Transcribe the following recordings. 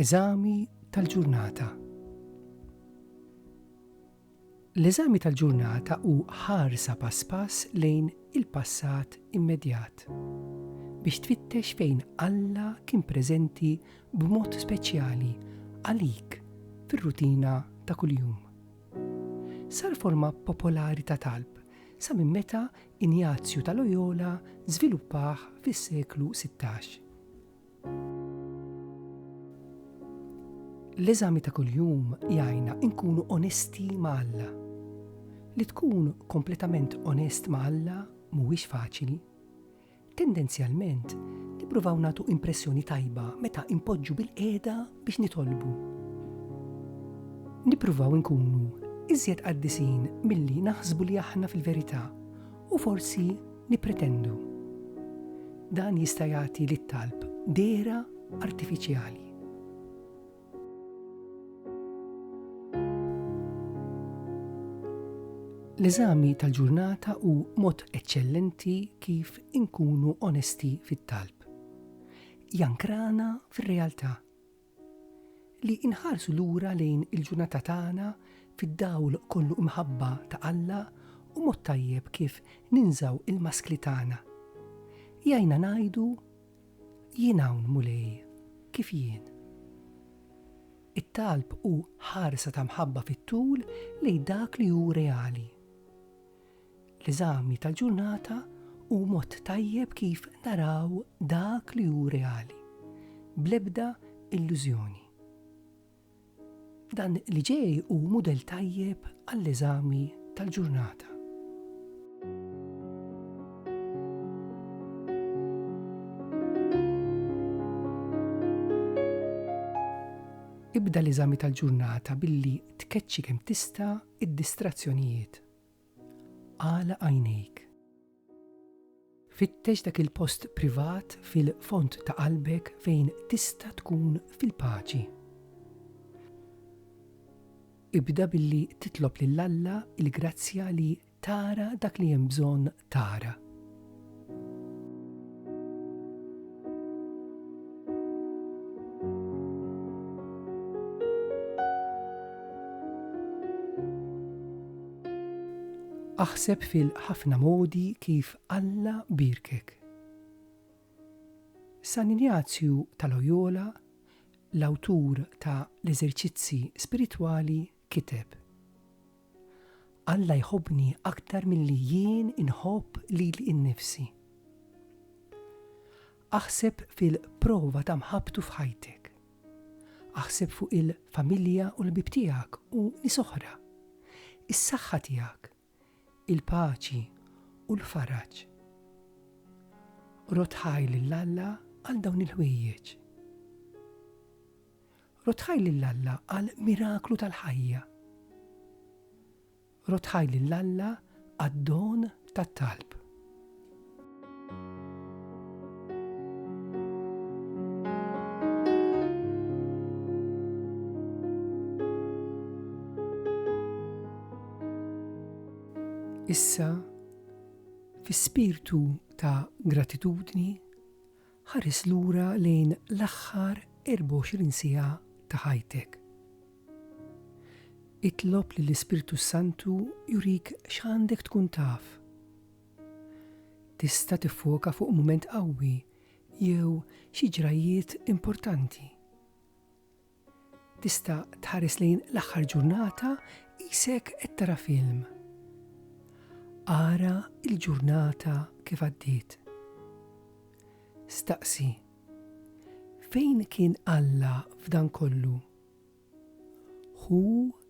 Eżami tal-ġurnata. L-eżami tal-ġurnata hu ħarsa pass pass lejn il-passat immedjat, biex tfittex fejn Alla kien preżenti b'mod speċjali għalik fir-rutina ta' kuljum. Sar forma popolari ta' talb sa minn meta Injazju ta' Loyola żviluppah fis-seklu sittax. L-eżami ta' kuljum jgħinna nkunu onesti ma' Alla. Li tkun kompletament onest ma' Alla mhuwiex faċli. Tendenzjalment, nippruvaw nagħtu impressjoni tajba meta npoġġu bilqiegħda biex nitolbu. Nippruvaw inkunu iżjed qaddisin milli naħsbu li aħna fil-verità u forsi Nippretendu. Dan jista' jagħti lit-talb dehra artifiċjali. L-eżami tal-ġurnata hu mod eċċellenti kif inkunu onesti fit-talb. Jankrana fir-realtà Li nħarsu lura lejn il-ġurnata tagħna fid-dawl kollu imħabba ta' Alla hu mod tajjeb kif ninżgħu l-maskli tagħna. Jgħinna ngħidu, Jien hawn, Mulej, kif jien. It-talb hu ħarsa ta' mħabba fit-tul lejn dak li hu reali. L-eżami tal-ġurnata hu mod tajjeb kif naraw dak li hu reali, bl-ebda illużjoni. Dan li ġej hu mudell tajjeb għall-eżami tal-ġurnata. Ibda l-eżami tal-ġurnata billi tkeċċi kemm tista' d-distrazzjonijiet Agħlaq għajnejk. Fittex dak il-post privat fil-fond ta' qalbek fejn tista' tkun fil-paċi. Ibda billi titlob lil Alla l-grazzja li tara dak li hemm bżonn tara. Aħseb fil-ħafna modi kif Alla birkek. San Injazju ta' Loyola, l-awtur ta' l-eżerċizzi spiritwali, kiteb, Alla jħobbni aktar milli jien inħobb lili nnifsi. Aħseb fil-prova ta' mħabbtu f'ħajtek. Aħseb fuq il-familja u l-ħbieb tiegħek u nies oħra, is-saħħa tiegħek, il-paċi u l-faraġ. Rodd ħajr lil Alla għal dawn il-ħwejjeġ. Rodd ħajr lil Alla għal miraklu tal-ħajja. Rodd ħajr lil Alla għad-don tat-talb. Issa, fi spirtu ta' gratitudni, Ħares lura lejn l-aħħar 24 siegħa ta' ħajtek. Itlob lill-Ispirtu s-Santu jurik x'għandek tkun taf. Tista' tiffoka fuq mument qawwi jew xi ġrajjiet importanti. Tista' tħares lejn l-aħħar ġurnata qisek qed tara film. Ara l-ġurnata kif għaddiet. Staqsi, Fejn kien Alla f'dan kollu? Ħu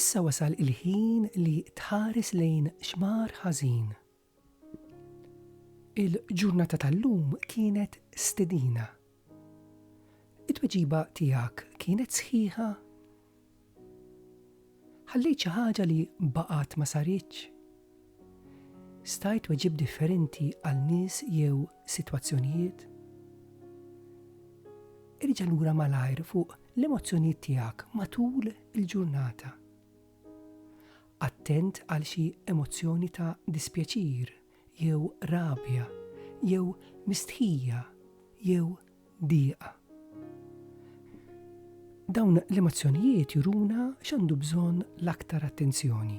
Issa wasal il-ħin li tħares lejn xmar ħażin. Il-ġurnata tal-lum kienet stedina. It-tweġiba tiegħek kienet sħiħa? Ħallejt xi ħaġa li baqgħet ma saritx? Stajt tweġibt differenti għal nies jew sitwazzjonijiet? Irġa' lura malajr fuq l-emozzjonijiet tiegħek matul il-ġurnata. Attent għal xi emozzjoni ta' dispjaċir jew rabja jew mistħija jew dieqa. Dawn l-emozzjonijiet juruna x'għandu bżonn l-aktar attenzjoni.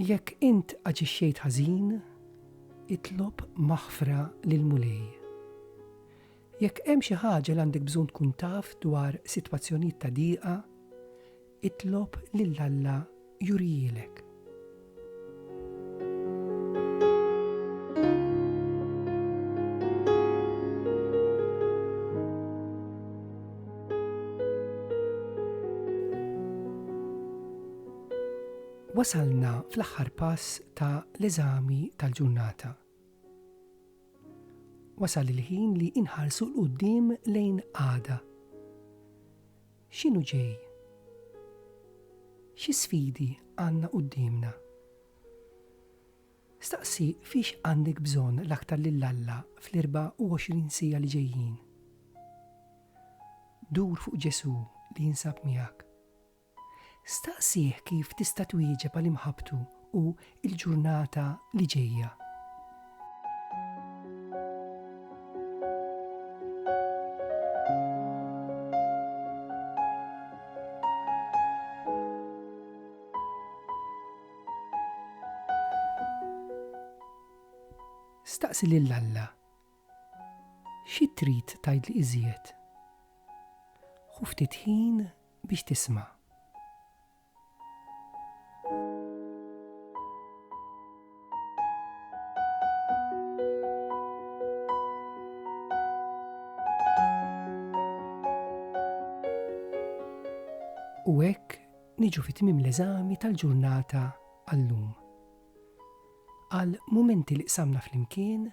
Jekk int aġixxejt ħażin, itlob maħfra lill-Mulej. Jekk hemm xi ħaġa li għandek bżonn tkun taf dwar sitwazzjonijiet ta' diqa, itlob lil Alla jurihielek. Wasalna fl-aħħar pass ta' l-eżami tal-ġurnata. Wasal il-ħin li inħarsu 'l quddiem lejn għada. X'inhu ġej? Xi sfidi għandna quddiemna? Staqsi fiex għandek bżonn l-aktar lil Alla fl-24 siegħa li ġejjin. Dur fuq Ġesù li jinsab miegħek. Staqsih kif tista' twieġeb għal imħabbtu u l-ġurnata li ġejja. Staqsi lil Alla. Xi trid tgħidli iżjed? Ħu ftit ħin biex tisma'. U hekk niġu fi tmiem l-eżami tal-ġurnata għallum. Għal mumenti li qsamna flimkien,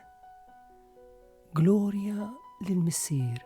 glorja lil missier